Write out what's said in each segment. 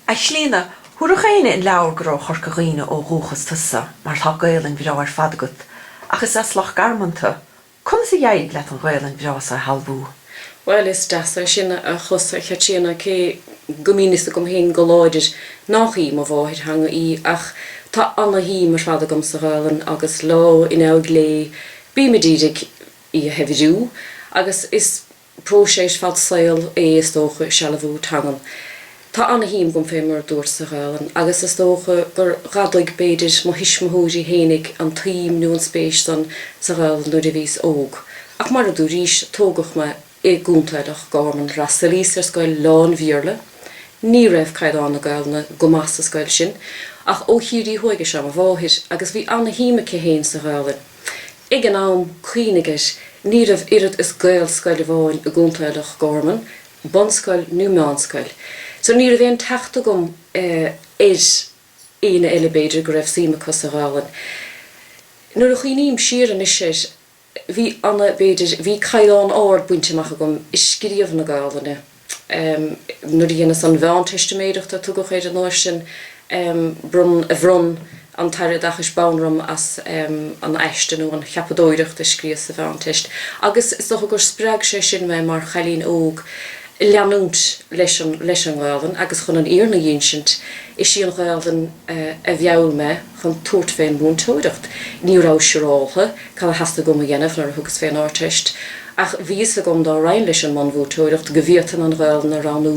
A Chlíodhna, thabharfadh éinne an leabhar gur ó Chorca Dhuibhne ó dhúchas tusa mar tá Gaelainn bhreá ar fad agat, ach is as Loch Garman tu. Conas a d'éirigh leat an Ghaelainn bhreá so a shealbhú? Bhuel, is deas é sin a chlos, a Chaitríona, cé go mbíonn fhios agam féin go láidir nách í mo mháthairtheanga í, ach tá ana-shuim ar fad agam sa Ghaelainn agus lá in aghaidh lae bím a d'iarraidh í a shaibhriú agus is Próiseas fad saoil é is dócha sealbhú teangan. Tá ana-shuim agam fé mar a dúirt sa Ghaelainn, agus is dócha gur fhadaigh, b'fhéidir, mo thuismitheoirí fhéinig an tsuim nó an spéis san sa Ghaelainn nuair a bhíos óg. Ach mar a dúraís, tógadh me i gContae Loch Garman, fhreastailíos ar scoil lán-Bhéarla, ní raibh caighdeán na Gaelainne go maith sa scoil sin, ach ó Chiarraí thuaidh is ea mo mháthair, agus bhí ana-shuim aici féin sa Ghaelainn. Ag an am, cuimhnigh air, ní raibh oiread is Gaelscoil amháin i gContae Loch Garman, bunscoil nó meánscoil. So ní raibh aon teacht agam ar aoinne eile b'fhéidir go raibh suim acu sa Ghaelainn. Nuair a chuimhním siar anois air, bhí ana, b'fhéidir, bhí caighdeán ard bainte amach agam i scríobh na Gaelainne. Nuair a dheineas an mheánteistiméireacht a tugadh air an uair sin bhronn an tAire Oideachais bonn orm as an aiste nó an cheapadóireacht a scríos sa Mheánteist agus is dócha gur spreag sé sin mé mar chailín óg leanúint leis an nGaolainn agus chun an fhírinne a dh'ínsint is í an Ghaolainn a mheall mé chun tabhairt fén múinteoireacht. Ní rabhas siúráltha cad a theastaigh uaim a dhéanamh nuair a thugas fén Ardteist, ach bhí fhios agam dá raghainn leis an mbunmhúinteoireacht go bhféadfainn an Ghaolainn a roghnú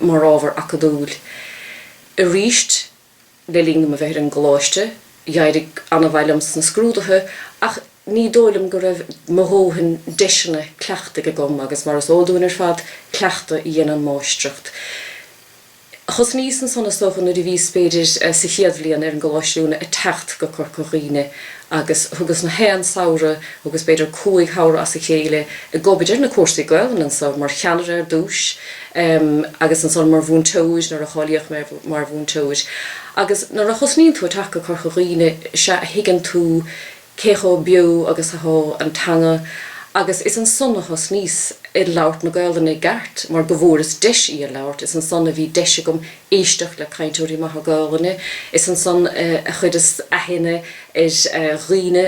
mar ábhar acadúil. Arís, le linn dom a bheith ar an gcoláiste, d'éirigh ana-mhaith liom sna scrúdaithe, ach ní dóigh liom go raibh mo dhóthain deiseanna cleachtaidh agam, agus mar is eol dúinn ar fad, cleachtadh a dhéanann máistreacht. Thosnaíos ansan is dócha nuair a bhíos b'fhéidir sa chéad bhliain ar an gcoláiste oiliúna ag teacht go Corca Dhuibhne agus thugas na haon samhradh, thugas b'fhéidir cúig shamhradh as a chéile ag obair ar na cúrsaí Gaolainne anso, mar cheannaire ar dtúis agus ansan mar mhúinteoir nuair a cháilíodh mé mar mhúinteoir. Agus nuair a thosnaíonn tú ag teacht go Corca Dhuibhne sea a thuigeann tú cé chomh beo agus athá an teanga agus is ansan a thosnaíos ag labhairt na Gaolainne i gceart mar go bhfuaireas deis í a labhairt, is ansan a bhí deis agam éisteacht le cainteoirí maithe Gaolainne, is ansan a chuireas aithne ar dhaoine.